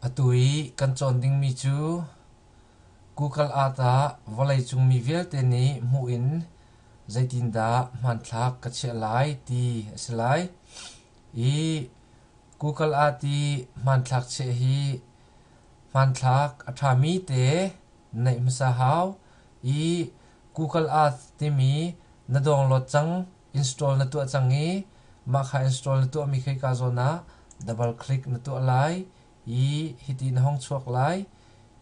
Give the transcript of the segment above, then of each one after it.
Atu i kan cawn dingmi cu Google Earth ah vawleicung mi vialte nih hmuh in zeitindah hmanthlak ka chiah lai ti a si lai. I Google Earth i hmanthlak chiah hi hmanthlak a ṭhami te neih hmasa hau. I Google Earth timi na dawnglawt cang. Install na tuah cang i mahka install na tuahmi khika zawn ah double click na tuah lai i hiti na hong chuak lai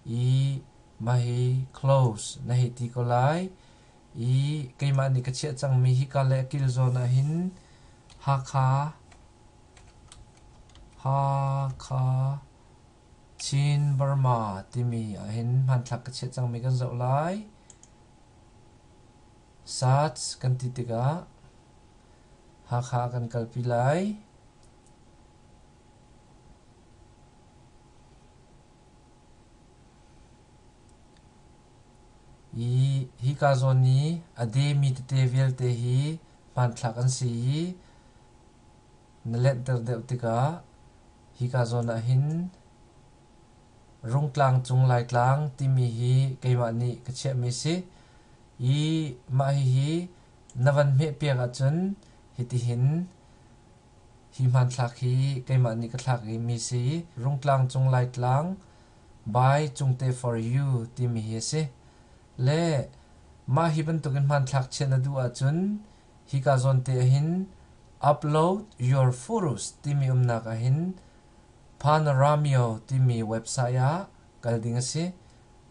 i mah hi close na hei ti ko lai i keimah nih ka chiah cangmi hika le a kil zawn ah hin Hakha Hakha Chin Burma timi ah hin hmanthlak ka chiah cangmi kan zoh lai. SARS kan ti tikah Hakha kan kalpi lai. I hika zawn i a demi tete vialte hi hmanthlak an si i na lenhter deuh tikah hika zawn ah hin Rungtlang cung Laitlang timi hi keimah nih ka chiahmi a si i mah hihi na van hmeh piak ahcun hitihin hi hmanthlak hi keimah nih ka thlak i mi si i Rungtlang cung Laitlang by Cungte for You timi hi a si. Le mah hi bantukin hmanthlak chiah na duh ahcun hika zawn te ahhin upload your photos timi umnak ahhin Panoramic timi website ah kal ding a si.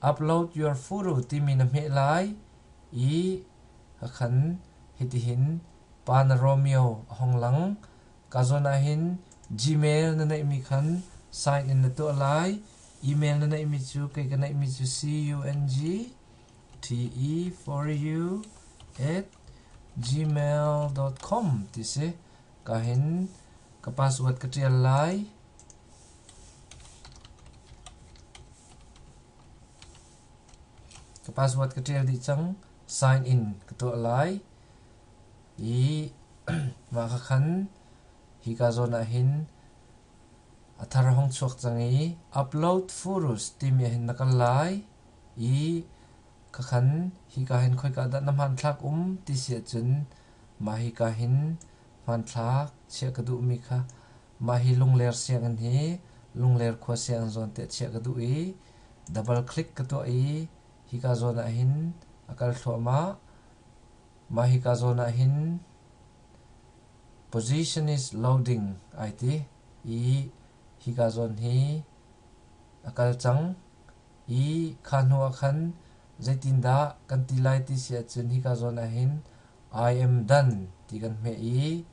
Upload your photo timi na hmeh lai i hakhan hitihin Panoramic a hong lang. Ka zawn ahhin Gmail na neihmi khan sign in na tuah lai. Email na neihmi cu kei ka neihmi cu cungte4u@gmail.com ti si. Ka hin ka password ka ṭial lai. Ka password ka ṭial dih cang. Sign in ka tuah lai. I mah ka khan hi ka zawn ah hin a thar hong chuak cang i upload furus timi ah hin na kal lai. I Ka khan, hika hin khoika dah na hmanthlak um ti si ahcun mah hika hin hmanthlak chiah ka duhmi kha mah hi lungler sianginn hi lungler khua sianginn zawn tiah chiah ka duh i double click ka tuah i hika zawn ah hin a kal thluahmah. Mah hika zawn ah hin position is loading ai ti i hika zawn hi a kal cang. Hi kha hnu ah khan zeitindah kan ti lai ti si ahcun hika zawn ah hin I am done ti kan hmeh i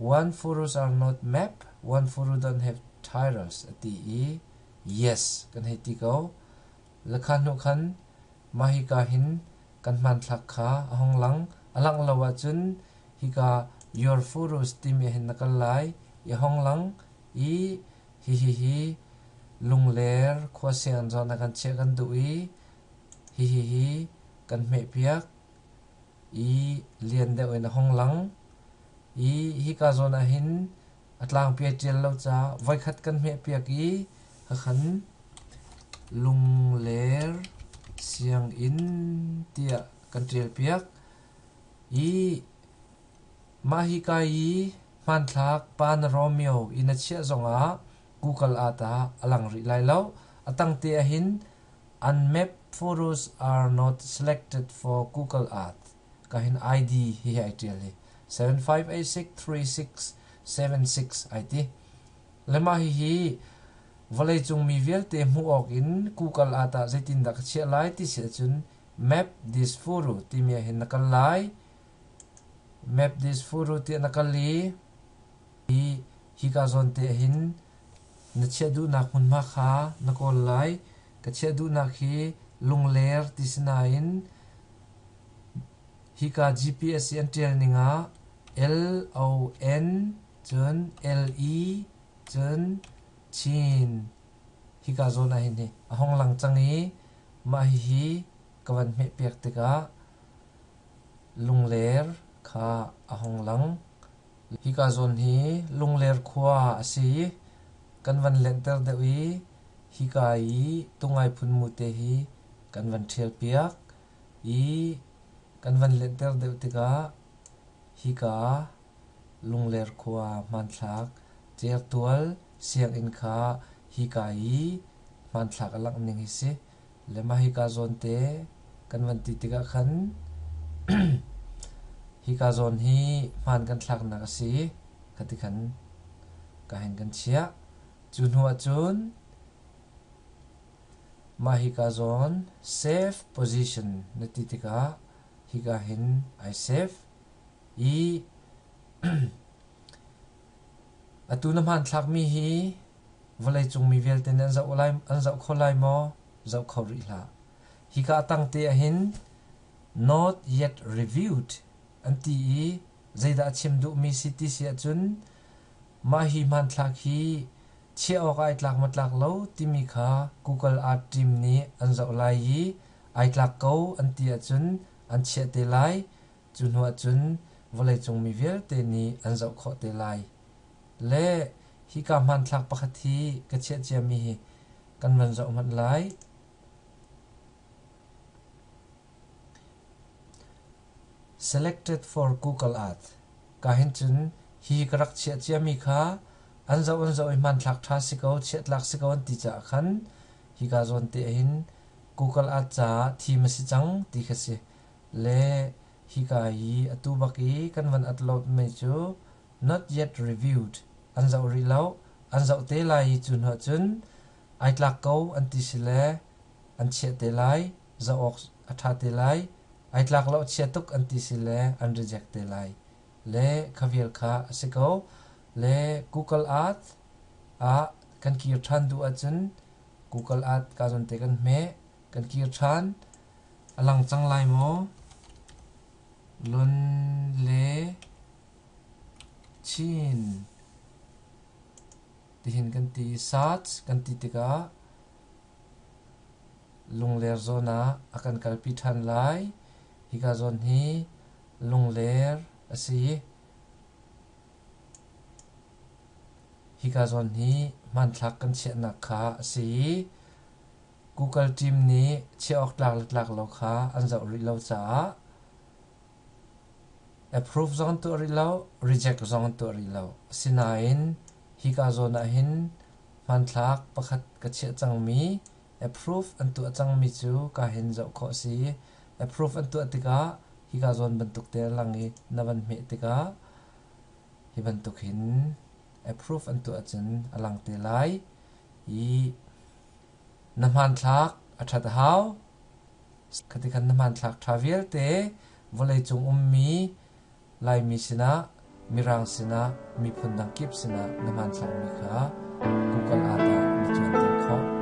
One furrows are not map, one furrow don't have tires a ti i yes kan hei ti ko. Lekha hnu khan mah hika hin kan hmanthlak kha a hong lang a langh lo ahcun hika your furrows timi hin na kal lai i a hong lang i Hihihi Lungler khuaseng zawn ah kan chiah kan duh i hihihi kan hmehpiak i lian deuh in a hung lang. I hika zawn ah hin a tlangpi a ṭial lo caah voikhat kan hmehpiak i hakhan Lungler sianginn tiah kan ṭialpiak i Mah hika i hmanthlak pa na Romeo i na chiah zongah Google ah tah a lang rih lai lo. A tangte ahhin Unmap photos are not selected for Google Earth ka hin ID hihi ai ṭial hi 75863676 ai ti. Le mah hihi vawleicung mi vialte hmuh awk in Google ah tah zeitindah ka chiah lai ti si ahcun map this photo timi ahhin na kal lai. Map this photo tiah na kal i hika zawn te hin na chiah duhnak hmunhma kha na kawl lai. Ka chiah duhnak hi lungler ti si nain hika GPS i an ṭial ning ah L-O-N cun L-E cun Chin hika zawn ah hin a hong lang cang i mah hihi ka van hmeh piak tikah Lungler kha a hung lang. Hika zawn hi Lungler khua a si i kan van lenhter deuh i hika i tungai phun mute hi kan van ṭhialpiak i kan van lenhter deuh tikah hika Lungler khua hmanthlak Certual sianginn kha hika i hmanthlak a langh ning hi si. Le mah hika zawn te kan van ti tikah khan hika zawn hi hmaan kan thlaknak a si ka ti khan ka hen kan chiah. Cu hnu ahcun mah hika zawn safe position na ti tikah hika hin ai safe i atu na hmaan thlakmi hi Vawleicung mi vialte nih an zoh kho lai maw? Zoh kho rih hlah. Hika a tang te ahhin Not yet reviewed an ti i zeidah a chim duhmi si ti si ahcun mah hi hmanthlak hi chiah awkah ai tlak matlak lo timi kha Google Art Team nih an zoh lai i ai tlak ko an ti ahcun an chiah te lai. Cu hnu ahcun vawleicung mi vialte nih an zoh khawh te lai. Le hika hmanthlak pakhat hi ka chiah ciami hi kan van zoh hmanh lai. Selected for Google Earth. Ka hin cun hi ka rak chiah ciami kha an zoh an zoh i hmanthlak ṭha si ko, chiahtlak si ko an ti caah khan hika zawn te hin Google Earth caah thim a si cang ti kha si. le hika hi atu bak i kan van upload mi cu not yet reviewed an zoh rih loh an zoh te lai i cu hnu ah cun ai tlak ko an ti si le an chiah te lai zoh awk a ṭha te lai ai tlak lo chia tuk an ti si le an reject te lai le kha vial kha a si ko le google earth ah kan kir ṭhan duh ahcun google earth ka zawn te kan hmeh kan kir ṭhan A lang cang lai maw? Lun le Chin tihin kan ti i SARS kan ti tikah lungler zawn ah a kan kalpi ṭhan lai. Hika zawn hi lungler a si i hika zawn hi hmanthlak kan chiahnak kha a si. Google team nih chiah awk tlangtlak lo kha an zoh rih lo caah approve zong tuah rih lo, reject zong tuah rih lo. Asinain hika zawn ah hin hmanthlak pakhat ka chiah cangmi approve an tuah cangmi cu ka hin zoh khawh a si. Approve an tuah tikah hika zawn bantuk te a lang i na van hmeh tikah hi bantuk hin approve an tuah cun a lang te lai. i na hmanthlak a ṭhat a hau. Khatikhan na hmanthlak ṭha vialte vawleicung ummi Laimi sinah, Mirang sinah, miphun dang kip sinah na hmanthlakmi kha Google ah dah na cawnter khawh.